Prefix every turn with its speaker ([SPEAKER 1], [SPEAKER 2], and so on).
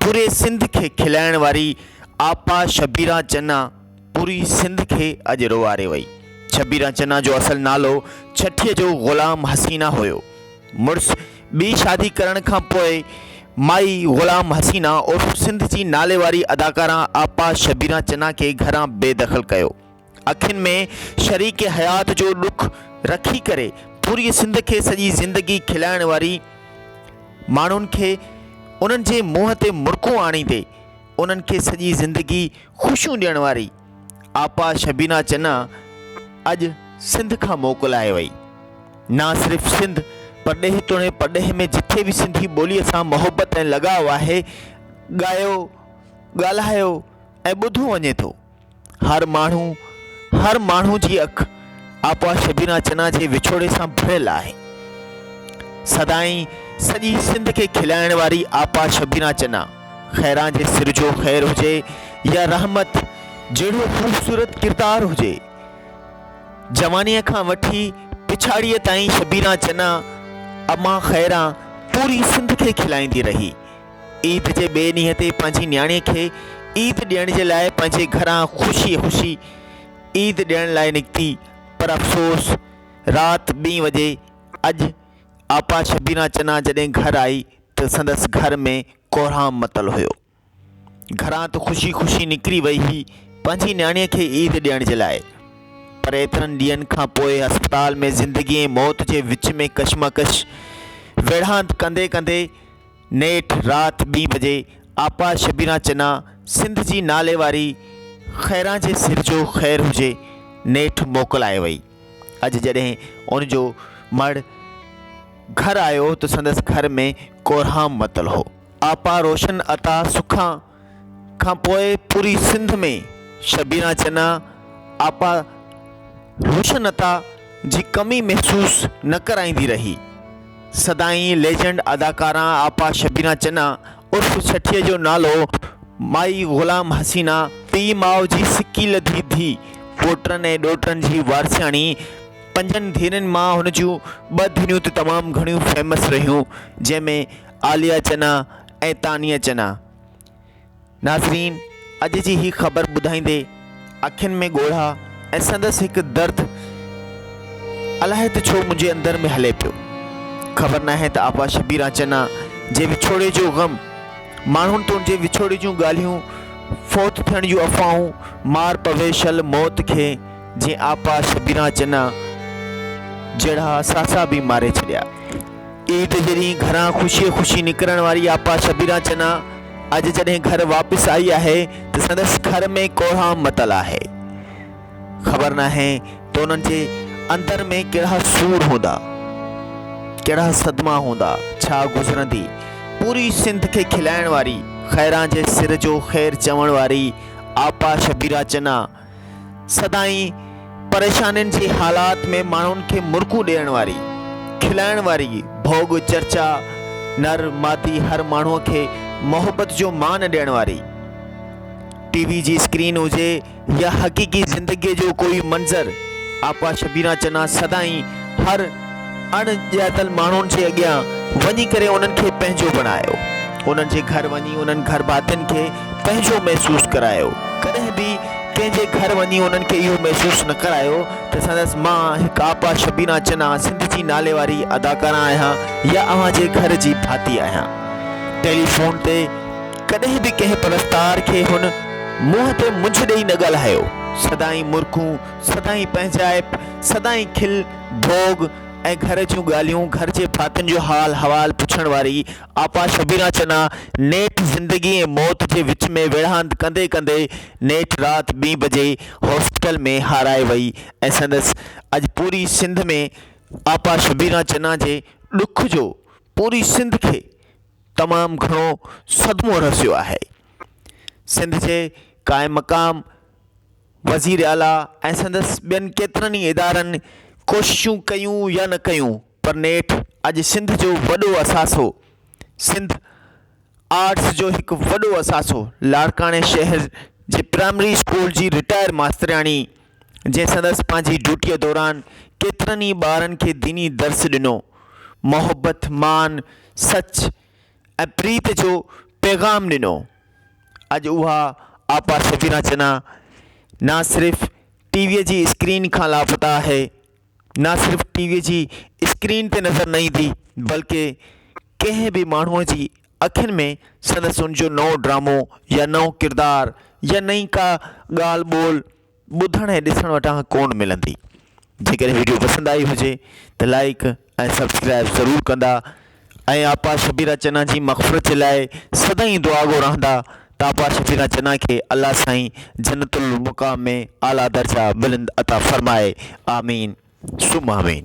[SPEAKER 1] پوري سنڌ کي کلائڻ واري آپا شبيران چنا پوري سنڌ کي اڄ روئاري وئي. شبيران چنا جو اصل نالو ڇٺي جو غلام حسينا هيو. مڙس ٻي شادي ڪرڻ کان پوء مائي غلام حسينا عرف سنڌ جي ناليواري اداڪارا آپا شبيران چنا کي گهران بي دخل ڪيو. اکين ۾ شريڪ حيات جو ڏک رکي ڪري پوريء سنڌ کي سڄي زندگي کلائڻ واري ماڻهن کي انهن جي منهن تي مرڪون آڻيندي انهن کي سڄي زندگي خوشيون ڏيڻ واري آپا شبينا چنا اڄ سنڌ کان موڪلائي وئي نه صرف سنڌ پرڏيهه توڻي پرڏيهه ۾ جٿي به سنڌي ٻوليء سان محبت ۽ لڳاء آهي ڳايو ڳالهايو ۽ ٻڌو وڃي ٿو هر ماڻهو هر ماڻهو جي اک آپا شبينا چنا جي وڇوڙي سان ڀريل آهي سدائين سڄي سنڌ کي کلائڻ واري آپا شبينا چنا خيران جي سر جو خير هجي يا رحمت جهڙو خوبصورت ڪردار هجي جوانيء کان وٺي پڇاڙيء تائين شبينا چنا امان خيران پوري سنڌ کي کلائيندي رهي عيد جي ٻئي ڏينهن تي پنهنجي نياڻي کي عيد ڏيڻ جي لاء پنهنجي گهران خوشي خوشي عيد ڏيڻ لاء نڪتي پر افسوس رات ٻين وڄي اڄ آپا شبينا چنا جڏهن گهر آئي ته سندس گهر ۾ ڪورهام متل هيو. گهران ته خوشي خوشي نڪري وئي هئي پنهنجي نياڻي کي عيد ڏيڻ جي لاء پر ايترن ڏينهن کان پوء اسپتال ۾ زندگي ۽ موت جي وچ ۾ ڪشمڪش ويڙهاند ڪندي ڪندي نيٺ رات ٻي بجي آپا شبينا چنا سنڌ جي نالي واري خيران جي سر جو خير هجي نيٺ موڪلائي وئي. اڄ جڏهن ان جو مڙهه گهر آيو ته سندس گهر ۾ ڪورهام متل هو. آپا روشن عطا سکان کان پوء پوري سنڌ ۾ شبينا چنا آپا روشنتا جي ڪمي محسوس نه ڪرائيندي رهي. سدائين ليجنڊ اداڪارا آپا شبينا چنا عرف ڇٺي جو نالو مائي غلام حسينا، پيء ماء جي سڪي لڌي ڌي، پوٽن ۽ ڏوٽن جي وارثياڻي، پنجن ڌيئرن مان هن جون ٻه ڌيئرون ته تمام گهڻيون فيمس رهيون جنهن ۾ عاليا چنا، ۽ تانيه چنا. ناظرين اڄ جي هي خبر ٻڌائيندي اکين ۾ ڳوڙها ۽ سندس هڪ درد الاهي ته ڇو منهنجي اندر ۾ هلي پيو. خبر ناهي ته آپا شبيران چنا جي وڇوڙي جو غم، ماڻهن تون جي وڇوڙي جون ڳالهيون، فوت ٿيڻ جون افواهون، مار پوي شل موت کي جنهن آپا شبيران چنا جهڙا ساسا به ماري ڇڏيا. عيد جي ڏينهن گهران خوشي خوشي نڪرڻ واري آپا شبيرا چنا اڄ جڏهن گهر واپس آئي آهي ته سندس گهر ۾ ڪوڙام متل آهي. خبر ناهي ته انهن جي اندر ۾ ڪهڙا سور هوندا، ڪهڙا صدما هوندا، ڇا گذرندي. پوري سنڌ کي کلائڻ واري، خيران جي سر جو خير چوڻ واري آپا شبيرا چنا، سدائين پريشانين جي حالات ۾ ماڻهن کي مرڪون ڏيڻ واري، کلائڻ واري ڀوڳ چرچا، نر مادي هر ماڻهو کي محبت جو مان ڏيڻ واري ٽي وي جي اسڪرين هجي يا حقيقي زندگي جو ڪوئي منظر آپا شبينا چنا سدائين هر اڻ ڄاتل ماڻهن جي اڳيان وڃي ڪري انهن کي پنهنجو بڻايو. انهن جي گهر وڃي انهن گهرڀاتين کي پنهنجو محسوس ڪرايو. ڪڏهن به ڪنهن جي گهر وڃي انهن کي اهو محسوس نه ڪرايو ته سندس مان هڪ آپا شبينا چنا سنڌ جي نالي واري اداڪارا آهيان يا اوهان جي گهر جي ڀاتي آهيان. ٽيليفون تي ڪڏهن به ڪنهن پرستار کي هن منهن تي منجهه ڏئي نه ڳالهايو. سدائين مرڪون، سدائين پنهنجائپ، سدائين کل، ڀوڳ ۽ گهر جون ڳالهيون، گهر جي ڀاتين جو حال حوال پڇڻ واري آپا شبيره چنا نيٺ زندگي ۽ موت جي وچ ۾ ويڙهاند ڪندي ڪندي نيٺ رات ٻين بجي هاسپيٽل ۾ هارائي وئي ۽ سندس اڄ پوري سنڌ ۾ آپا شبيره چنا جي ڏک جو پوري سنڌ کي تمام گهڻو صدمو رسيو آهي سنڌ جي قائم مقام وزير اعليٰ ۽ سندس ٻين ڪيترن ئي ادارن ڪوششون ڪيون يا نه ڪيون پر نيٺ اڄ سنڌ جو وڏو اثاثو سنڌ آرٽس جو هڪ وڏو اثاثو لاڙڪاڻي شهر جي پرائمري اسڪول جي رٽائر ماسترياڻي جنهن سندس پنهنجي ڊيوٽيء دوران ڪيترن ئي ٻارن کي ديني درس ڏنو محبت مان سچ ۽ پريت جو پيغام ڏنو. اڄ اها آپا شبينا چنا نه صرف ٽي ويء جي اسڪرين کان لاپتا آهي، نه صرف ٽي ويء جي اسڪرين تي نظر نه ايندي، بلڪه ڪنهن به ماڻهوء جي اکين ۾ سندس ان جو نئون ڊرامو يا نئون ڪردار يا نئين ڪا ڳالهه ٻولهه، ٻڌڻ ۽ ڏسڻ وٽان ڪون ملندي. جيڪڏهن وڊيو پسند آئي هجي ته لائيڪ ۽ سبسڪرائيب ضرور ڪندا ۽ آپا شبيرا چنا جي مغفرت جي لاء سدائين دعاگو رهندا ته آپا شبيرا چنا کي الله سائين جنت المقام ۾ اعليٰ درجا بلند عطا فرمائي آمين ثم آمين.